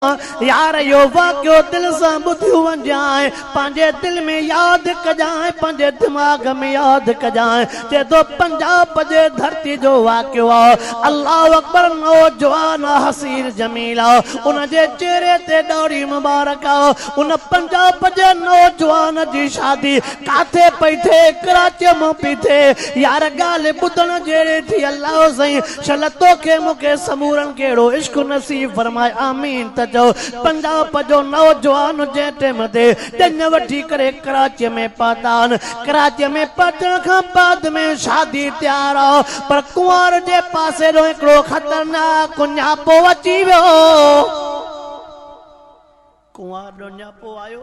يار اهو واقعو دل سان ٻڌيو وڃجانء پنهنجي دل ۾ ياد ڪجانء پنهنجي دماغ ۾ ياد ڪجانء چئي ٿو پنجاب جي ڌرتي جو واقعو آ الله اڪبر نوجوان آ حسين جميل آ ان جي چهري تي ڏاڙهي مبارڪ آ ان پنجاب جي نوجوان جي شادي ڪاٿي پئي ٿئي ڪراچيء مان پئي ٿئي يار ڳالهه ٻڌڻ جهڙي ٿي الله سائين شل توکي مون کي سمورن کي اهڙو عشق نصيب فرمائي آمين ته چئو پنجاب جو نوجوان جنهن ٽيم تي ڄڃ وٺي ڪري ڪراچي ۾ پهتان ڪراچي ۾ پهچڻ کان بعد ۾ شادي تيار آ پر ڪنوار جي پاسي جو هڪڙو خطرناڪ ڃاپو اچي ويو ڪنوار جو ڃاپو آيو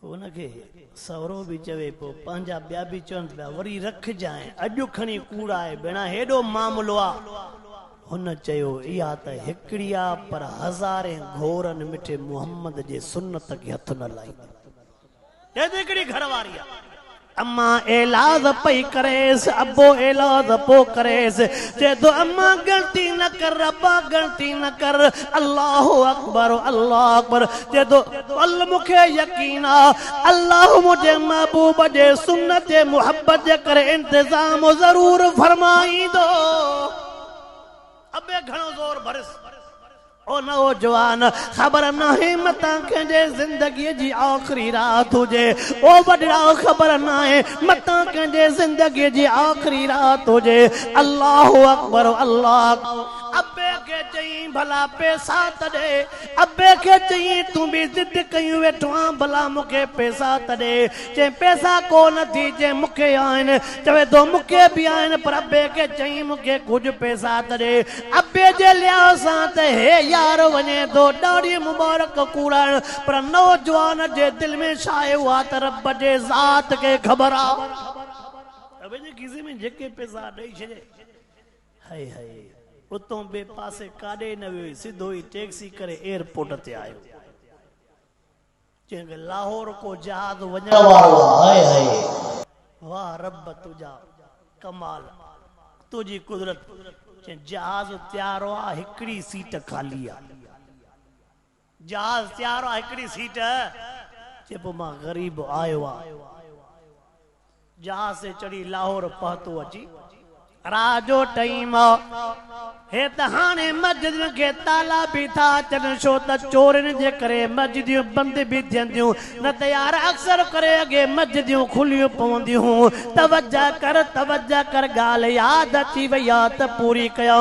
پوء ان کي سهرو به چوي، پوء پنهنجا ٻيا به چون پيا، وري رکجانء، اڄ کڻي ڪوڙائي ڀيڻا هيڏو معاملو آ. هن چيو، اها ته هڪڙي آ، پر هزارين گهورن مٺي محمد جي سنت کي هٿ نه لائيندي. هي ته هڪڙي گهر واري آ. اما ايلاز پئي ڪريس، ابو ايلاز پو ڪريس، چئي ٿو اما ڳڻتي نه ڪر، ابا ڳڻتي نه ڪر، الله اڪبر الله اڪبر، چئي ٿو ول مون کي يقين آ، الله منهنجي محبوب جي سنت جي محبت جي ڪري انتظام ضرور فرمائيندو. ابي گهڻو زور ڀريس. او نوجوان! خبر ناهي متان ڪنهنجي زندگيء جي آخري رات هجي. او وڏڙائو! خبر ناهي متان ڪنهنجي زندگيء جي آخري رات هجي. الله اڪبر الله! ابي کي چيائين، ڀلا پيسا ته ڏي. ابي کي چيائين، تون به ضد ڪيون ويٺو آهين، ڀلا مون کي پيسا ته ڏي. چيائين، پيسا ڪو نه ٿي. چيائين، مون کي آهن. چوي ٿو، مون کي به آهن. پر ابي کي چيائين، مون کي ڪجهه پيسا ته ڏي. ابي جي لحاظ سان ته هي يار وڃي ٿو ڏاڙهي مبارڪ ڪوڙائڻ، پر نوجوان جي دل ۾ ڇا آهي اها ته رب جي ذات کي خبر آ. ابي جي کيسي ۾ جيڪي پئسا ڏئي ڇڏي. High high. اتون ٻئي پاسي ڪاڏي نه ويو سڌو ئي ٽيڪسي ڪري ايئرپورٽ تي آيو. جنهن کي لاهور ڪو جهاز وڃڻ وارو آ هاء هاء واه رب تنهنجا ڪمال تنهنجي قدرت جنهن جهاز تيار آ هڪڙي سيٽ خالي آ جهاز تيار آ هڪڙي سيٽ چئبو مان غريب آيو آ. جهاز تي چڙهي لاهور پهتو اچي رات جو ٽئين مئو هي ته هاڻي مسجدن کي تالا به ٿا اچن ڇو ته چورين جي ڪري مسجديون بند به ٿين ٿيون نه ته يار اڪثر ڪري اڳي مسجديون کليون پونديون هون توجه ڪر توجه ڪر ڳالهه ياد اچي وئي آ ته پوري ڪيو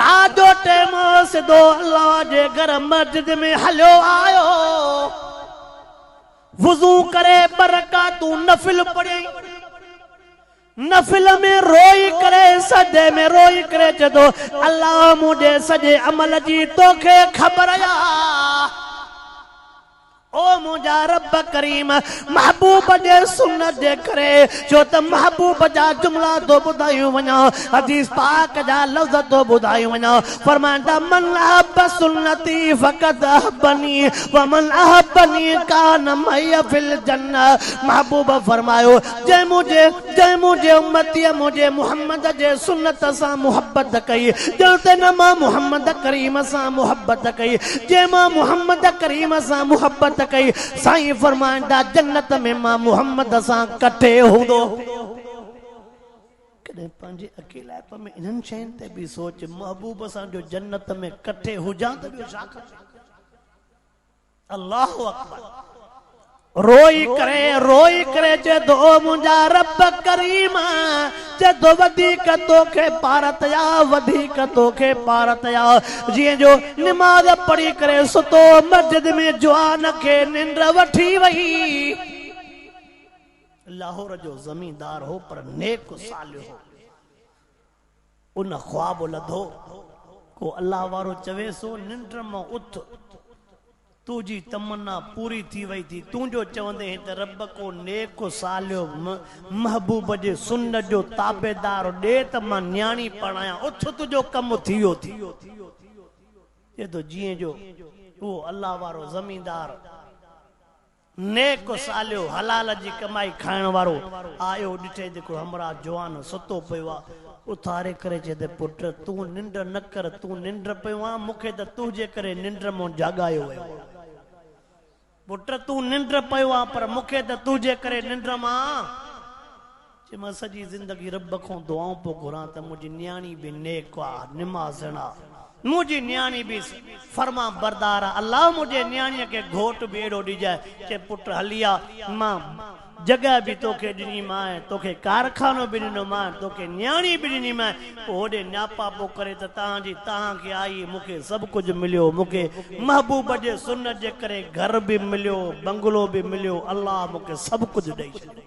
رات جو ٽئين مئو سڌو الله جي گهر مسجد ۾ هليو آيو وضو ڪري ٻه رڪعتون نفل پڙهيائين. نفل ۾ روئي ڪري سجدي ۾ روئي ڪري چئي ٿو، الله منهنجي سڄي عمل جي توکي خبر آ. او منهنجا رب ڪريم! محبوب جي سنت جي ڪري ڇو ته محبوب جا جملا ٿو ٻڌايون وڃان، حديث پاڪ جا لفظ ٿو ٻڌايون وڃان، فرمائن ٿا من احب سنتي فقد احبني ومن احبني كان معي في الجنه محبوب فرمايو جنهن منهنجي جنهن منهنجي امتي منهنجي محمد جي سنت سان محبت ڪئي ڄڻ ته نه مان محمد ڪريم سان محبت ڪئي جنهن مان محمد ڪريم سان محبت ڪئي سائين فرمائن ٿا جنت ۾ مان محمد سان ڪٺي هوندو ڪڏهن پنهنجي اڪيلائپ ۾ انهن شين تي به سوچ، محبوب سان جو جنت ۾ ڪٺي هجان ته ٻيو ڇا کپي. الله اڪبر روئي ڪري روئي ڪري چئي ٿو او منهنجا رب ڪريم چئي ٿو وڌيڪ توکي پارت يا وڌيڪ توکي پارت يا جيئن جو نماز پڙهي ڪري ستو مسجد ۾ جوان کي ننڊ وٺي وئي لاهور جو زميندار هو پر نيڪ و صالح هو. ان خواب لڌو. ڪو الله وارو چويس هو، ننڊ مان اٿ، تو جي تمنا پوري ٿي وئي ٿي. تون جو چوندين هي ته رب ڪو نيڪ و صالح محبوب جي سنت جو تابعدار ڏي ته مان نياڻي پرڻايان. اٿ تنهنجو ڪم ٿي ويو ٿي. چئي ٿو جيئن جو اهو الله وارو زميندار نيڪ صالح حلال جي ڪمائي کائڻ وارو آيو ڏٺئي ته هڪڙو همراهه جوان ستو پيو آ اٿاري ڪري چئي ته پٽ تون ننڊ نه ڪر تون ننڊ پيو آن مون کي ته تنهنجي ڪري ننڊ مون جاڳايو ويو آ پٽ تون ننڊ پيو آ پر مون کي ته تنهنجي ڪري ننڊ مان چي مان سڄي زندگي رب کان دعائون پيو گهران ته منهنجي نياڻي به نيڪ آ، نمازڻ آ، منهنجي نياڻي به فرمانبردار آ، الله منهنجي نياڻيء کي گهوٽ به اهڙو ڏجانء. چي پٽ هلي آ، مان جڳهه به توکي ڏني مانء، توکي ڪارخانو به ڏنو مانء، توکي نياڻي به ڏني مانء، پوء هوڏي نياپاپو ڪري ته تنهن جي تنهن کي آئي، مون کي سڀ ڪجهه مليو، مون کي محبوب جي سنت جي ڪري گهر به مليو، بنگلو به مليو، الله مون کي سڀ ڪجهه ڏئي ڇڏيو.